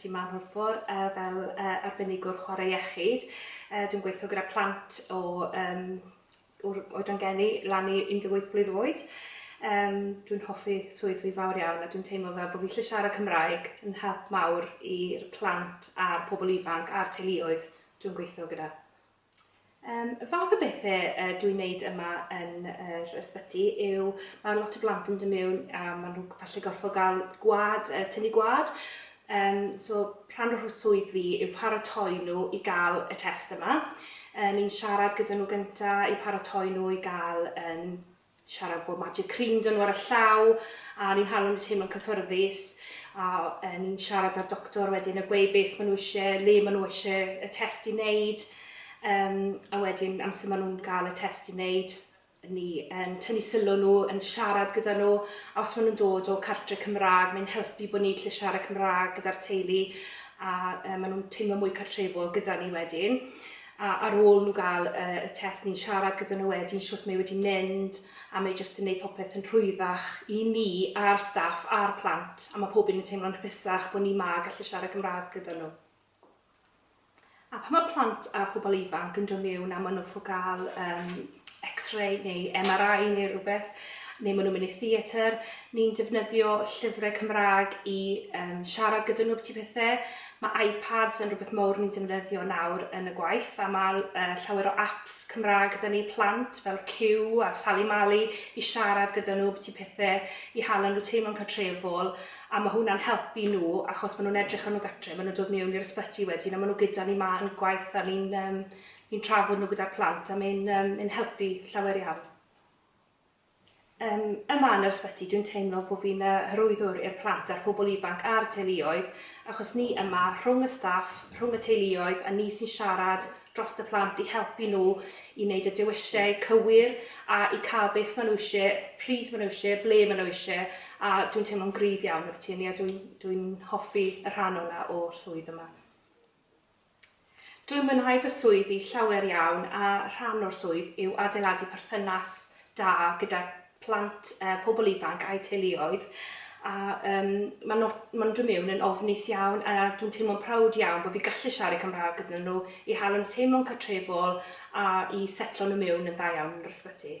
ti yma mor fawr uh, fel uh, arbenigwr chwarae iechyd. Uh, dwi'n gweithio gyda plant o um, o'r oedran geni lan i 18 blwydd oed. Um, dwi'n hoffi swydd fi fawr iawn a dwi'n teimlo fel bod fi lle siarad Cymraeg yn help mawr i'r plant a'r pobl ifanc a'r teuluoedd dwi'n gweithio gyda. Yym y fath o bethe yy dwi'n neud yma yn yr ysbyty yw ma' lot o blant yn do' miwn a ma' nhw g- falle gorffo ga'l gwa'd yy tynnu gwa'd yym so rhan o rho- swydd fi yw paratoi nhw i ga'l y test yma yy ni'n siarad gyda nhw gynta i paratoi nhw i ga'l yym siarad fod magic cream 'da nhw ar y llaw a ni'n hala nhw teimlo'n cyffyrddus a yy ni'n siarad â'r doctor wedyn a gweud beth ma' nhw isie, le ma' nhw isie y test i wneud yym a wedyn amser ma' nhw'n ga'l y test i wneud ni yn tynnu sylw nhw yn siarad gyda nhw a os ma' nhw'n dod o cartre Cymra'g mae'n helpu bo' ni'n gallu siarad Cymra'g gyda'r teulu a yy ma' nhw'n teimlo mwy cartrefol gyda ni wedyn. a ar ôl nhw gael y test ni'n siarad gyda nhw wedyn shwt mae wedi mynd a mae jyst yn neud popeth yn rhwyddach i ni a'r staff a'r plant a mae pob un yn teimlo'n hapusach bod ni 'ma a gallu siarad Gymraeg gyda nhw. A pan mae plant a pobl ifanc yn dod miwn a ma' nhw 'fo gael yym x-ray neu MRI neu rhywbeth, neu maen nhw'n mynd i theatr, ni'n defnyddio llyfrau Cymraeg i um, siarad gyda nhw beth i pethau. Mae iPads yn rhywbeth mawr ni'n defnyddio nawr yn y gwaith, a mae uh, llawer o apps Cymraeg gyda ni plant fel Q a Sally Mali i siarad gyda nhw beth i pethau, i hala nhw teimlo'n catrefol, a mae hwnna'n helpu nhw, achos maen nhw'n edrych ar nhw gatre, maen nhw'n dod mewn i'r ysbyty wedyn, a maen nhw gyda ni ma yn gwaith, a ni'n um, Ni'n trafod nhw gyda'r plant a mae'n um, yn helpu llawer iawn. Um, yma yn yr ysbyty, dwi'n teimlo bod fi'n uh, hyrwyddwr i'r plant a'r pobl ifanc a'r teuluoedd, achos ni yma rhwng y staff, rhwng y teuluoedd, a ni sy'n siarad dros y plant i helpu nhw i wneud y dewisau cywir a i cael beth maen nhw eisiau, pryd maen nhw eisiau, ble maen nhw eisiau, a dwi'n teimlo'n gryf iawn y byti ni a dwi'n dwi hoffi y rhan o'na o'r swydd yma. Dwi'n mwynhau fy swyddi llawer iawn a rhan o'r swydd yw adeiladu perthynas da gyda plant, pobl ifanc a'u teuluoedd a yym ma' no- ma'n dod miwn yn ofnus iawn a dwi'n teimlo'n prowd iawn bo' fi gallu siarad Cymrâg gyda nhw i hel yn teimlo'n cartrefol a i setlo nhw miwn yn dda iawn yn yr ysbyty.